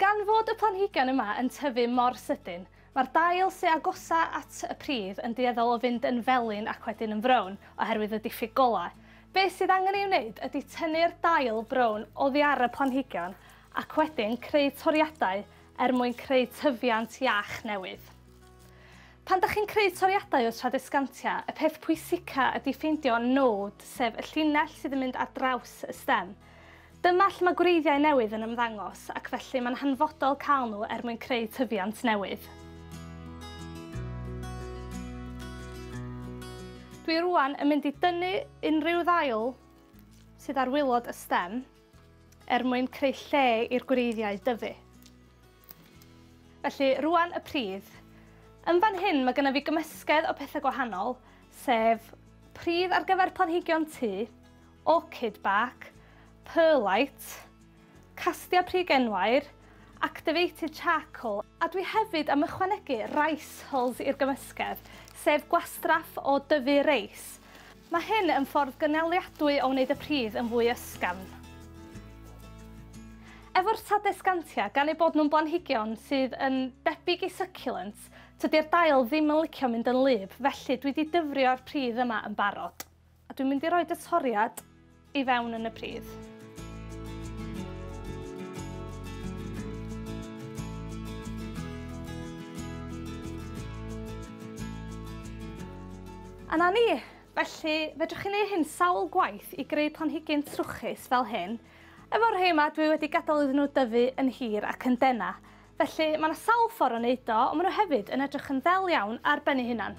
Gan fod y planhigion yma yn tyfu mor sydyn, mae'r dail sy agosa at y pridd yn dueddol o fynd yn felyn ac wedyn yn frown oherwydd y diffyg golau. Beth sydd angen ei wneud ydy tynnu'r dail brown oddi ar y planhigion ac wedyn creu toriadau er mwyn creu tyfiant iach newydd. Pan da chi'n creu toriadau o tradescantia, y peth pwysica ydy ffeindio nôd, sef y llinell sydd yn mynd ar draws y stem. Dyma lle mae gwreiddiau newydd yn ymddangos ac felly mae'n hanfodol cael nhw er mwyn creu tyfiant newydd. Dwi rwan yn mynd i dynnu unrhyw ddail sydd ar wylod y stem er mwyn creu lle i'r gwreiddiau dyfu. Felly rwan y pridd. Yn fan hyn mae gennym fi gymysgedd o pethau gwahanol, sef pridd ar gyfer planhigion tŷ, orchid bark, perlite, castia pry genwair, activated charcoal, a dwi hefyd am ychwanegu rice hulls i'r gymysgedd, sef gwastraff o dyfu reis. Mae hyn yn ffordd gynaliadwy o wneud y pridd yn fwy ysgafn. Efo'r Tradescantia, gan eu bod nhw'n blanhigion sydd yn debyg i succulents, tydi'r dail ddim yn licio mynd yn wlyb, felly dwi 'di dyfrio'r pridd yma yn barod. A dwi'n mynd i roed y toriad i fewn yn y pridd. A na ni! Felly, fedrwch chi neu hyn sawl gwaith i greu planhigyn trwchus fel hyn. Efo'r rhei yma, dwi wedi gadael iddyn nhw dyfu yn hir ac yn dena. Felly, mae yna sawl ffordd o wneud o, ond maen nhw hefyd yn edrych yn ddel iawn ar ben eu hunan.